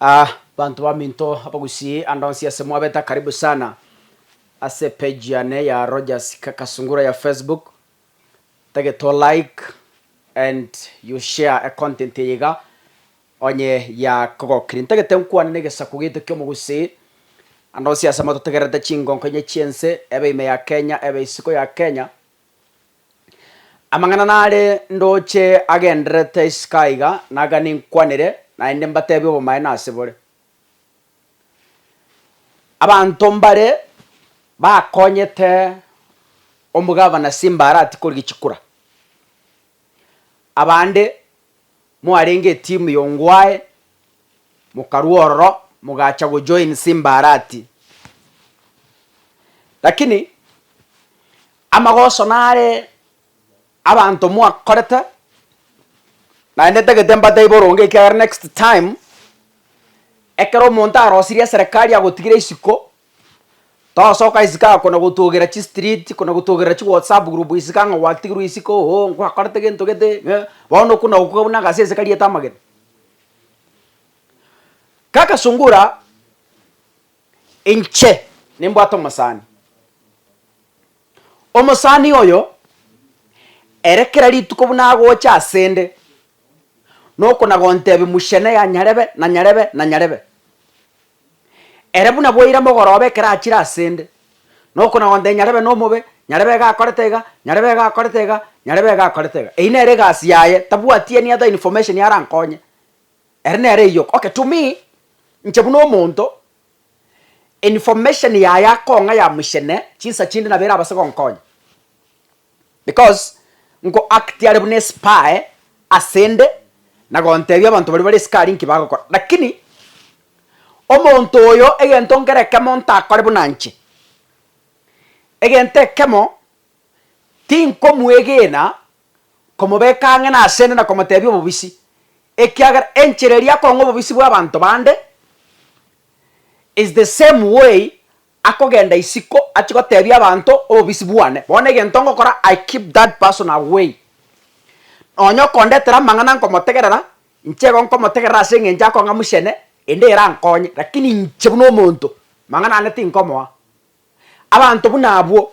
Aah banto baminto abagusii ande onsi ase mwabeta karibu sana ase page yane ya Rogers Kakasungura ya Facebook tagete to like and you share a content eye iga onye yakogokirie ntagete nkwane negesaku gito kiomogusii ande onsi ase mototegererete chingonko inye chiense ebe ime ya Kenya ebe isiko ya Kenya Amang'ana nare ndoche agendererete isiko aiga naga ninkwanere, naende mbateebie obomaene ase bore. Abanto mbare bakonyete omogavana Simbarati korigia chikura, abande. mwarenge etimu ya Ongwae, mokarua ororo mogacha gojoin Simba Arati. Lakini amagoso nare abanto mwakorete, naende ntagete mbatebie boronge ekiagera next time ekero omonto arosirie eserekari agotigira isiko. Tosoka isiko ako na gotwogera chi street na gotwogerera chi whatsapp group isiko ang'o gwatigirwe isiko oo ngwakorete gento gete ng'e bono okona okoka buna agase ense kariete amagena. Kaka sungura inche nimbwate omosani, omosani oyo ere kera rituko buna agocha asende nokona gontebia muchene ya nyarebe na nyarebe na nyarebe. Ere buna bwaira mogoroba ekero achire ase 'nde, na okonagonte nyarebe nomobe, nyarebe iga akorete iga, nyarebe iga akorete iga, nyarebe iga akorete iga. Eyio nere egasi yaye, tabwati any other information arankonye. Ere nere eyio, okay to me, inche buna omonto, information yaye akong'a ya mochene, chinsa chinde nabo erabase gonkonya. Because nko act are buna espy asende na gontebia abanto baria bare esukari nki bagokora lakini omonto oyo egento nkere ekemo ntakore buna nche egento ekemo tinkomwegena komobeka ang'e nasende na komotebia obobisi ekiagera enchera eria akong'a obobisi bwa abanto bande is the same way Akogenda isiko achie gotebia abanto obobisi bwane, bono egento ngokora I keep that person away. Nonya okondetera amang'ana nkomotegerera, inche igo nkomotegerera ase eng'encho akong'a mochene, ende ere ankonye, lakini inche buna omonto, mang'ana ane tinkomoa. Abanto buna abwo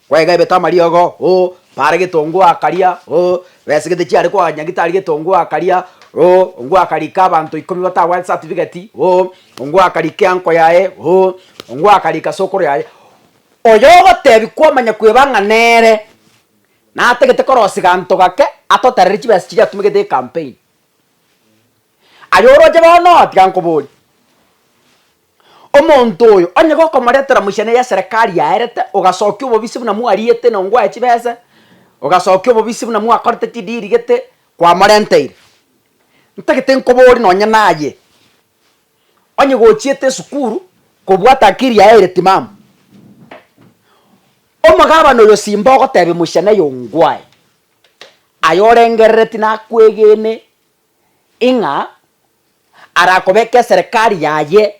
Kwegaebete amariogo, oo, bare getongo akaria, oo, besegete chiare kwanya gitari getongo akaria, oo, ongwakarika abanto ikomi batagwete certificate, oo, ongwakarika enko yaye, oo, ongwakarika sokoro yaye, oyogotebi kwamanya kweba ng'a nere natagete korosia ganto gake atoterere chibesa chiria atumegete ecampaign. Aye oroche bono oo tiga nkoboria. Omonto oyo, onye gokomoretera mochene ya Serekari yaerete, ogasokia obobisi buna mwariete na ongwae chibesa, ogasokia obobisi buna mwakorete chidiri gete kwamorenteire. Ntagete nkoborie nonye naye, onye gochiete esukuru kobwata akiri yaeire timamu. Omogabana oyo simba ogotebia mochene oyo ongwae, aye orengerereti nakwegene ing'a Arakobeke eserekari yaye,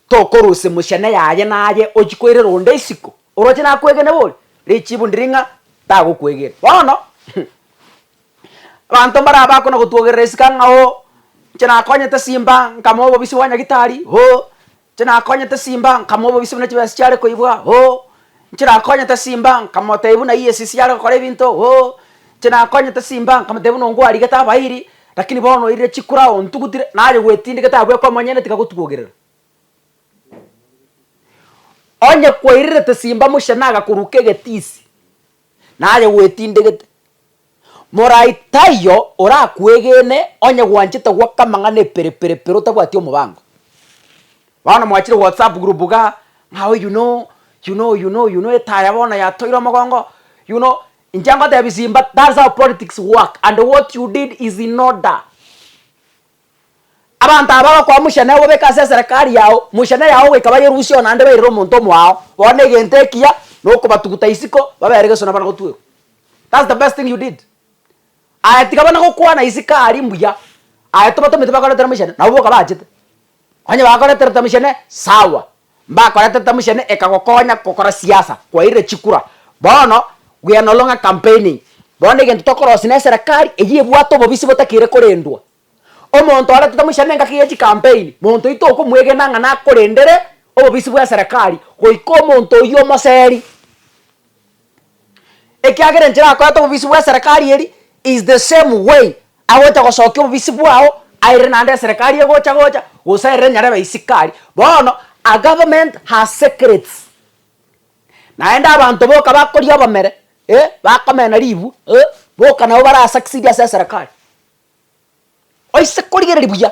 tokorusia emochene yaye naye ochie koirera onde isiko, oroche nakwegene bori, richibu ndiri ng'a tagokwegena. Bono abanto mbare abwo bakona gotwogerera esika ng'a oo, inche nakonyete simba, nkamoa obobisi bwa nyagitari oo, Chinakonyete simba, nkamua obobisi buna chibesa chiare koibwa, o. Chinakonyete simba, nkamotebia buna aiyie esisi are gokora ebinto, o. Chinakonyete simba, nkamotebia buna ongwarigete abairi, lakini bono oirire chikura ontugutire, naye gwetindekete abwo ekomonyene tiga gotubogerera. Onye kwairerete simba mochie nagakoruka egetisi, naye gwetindegete. Morai taiyo orakwegene onye gwanchete gwoka amang'ana epere pere pere otabwati omobango. Bono mwachire whatsapp group iga ng'a oyio no oyio no oyio no oyio no etaya bono yatoire omogongo oyio no inche ngotebi simba that's how politics work and what you did is in order. Abanto aba bagokoa mochie na obobeka ase eserekari yao, mochie na eyao goika bayerusie onande bairere omonto omoao, bono egento ekiya nokobatuguta isiko babere geso nabana gotuerwa. That's the best thing you did. Aye tiga bana gokwana isiko aria mbuya, aye tobatomete bakoretera mochie na nabo boka bachete. Onye bakoreterete mochie sawa, Mbakorete Tamshene ekagokonya gokora siasa kwairire chikura bono we are no longer campaigning bono egento tokorosia ne serikali eyio ebwate obobisi botakire korendwa omonto orete Tamshene engaki ye chicampaign monto oyio tokomwegena ng'a nakorendere obobisi bwe serikali goika omonto oyio omoseri. Ekiagera enchera akoete obobisi bw'eserekari eri is the same way agocha gosokia obobisi bwao airire naende eserekari egocha gocha gose airire nyarebe isiko aria. Bono a government has secrets naende abanto boka bakoria obomere eh bakomena ribwa eh boka nabo bara succeed ase eserekari. Oise korigereria buya.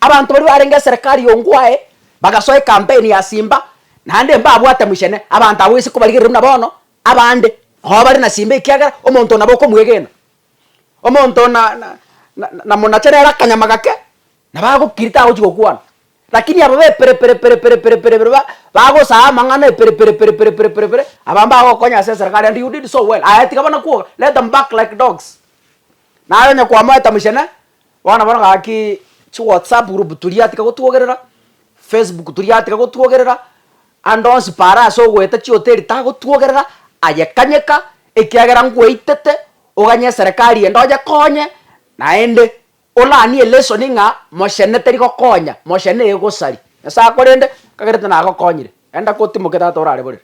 Abanto baria barenge eserekari y'ongo oye, bagasoa ekampeni ya simba, naende mbabwate mochene, abanto abwo oise kobarigereri buna bono, abande nabo bare na simba ekiagera omonto nabo okomwegena. Omonto na na na namonache nere akanyama gake, nabo agokiri tagochia gokwana. Rakini aba b'eperepereperepereperepere ba bagosaya amang'ana eperepereperepereperepere, aba mbagokonya ase eserekari and you did so well, aye tiga bana kwoga, let them bark like dogs. Naro onye kwamoeta mochene, bono bono gaki chiwhatsapp group toria tika gotwogerera, facebook toria tika gotwogerera, ande onsi paara ase ogoeta chihoteli tagotwogerera, aye kanyeka ekiagera ngwaetete oganye eserekari ende onyekonye, naende olanie elesoni ng'a mochene tari gokonya, mochene egosari. Nyasae akorende, kagerete nagokonyire, enda kotimoke tata orare borere.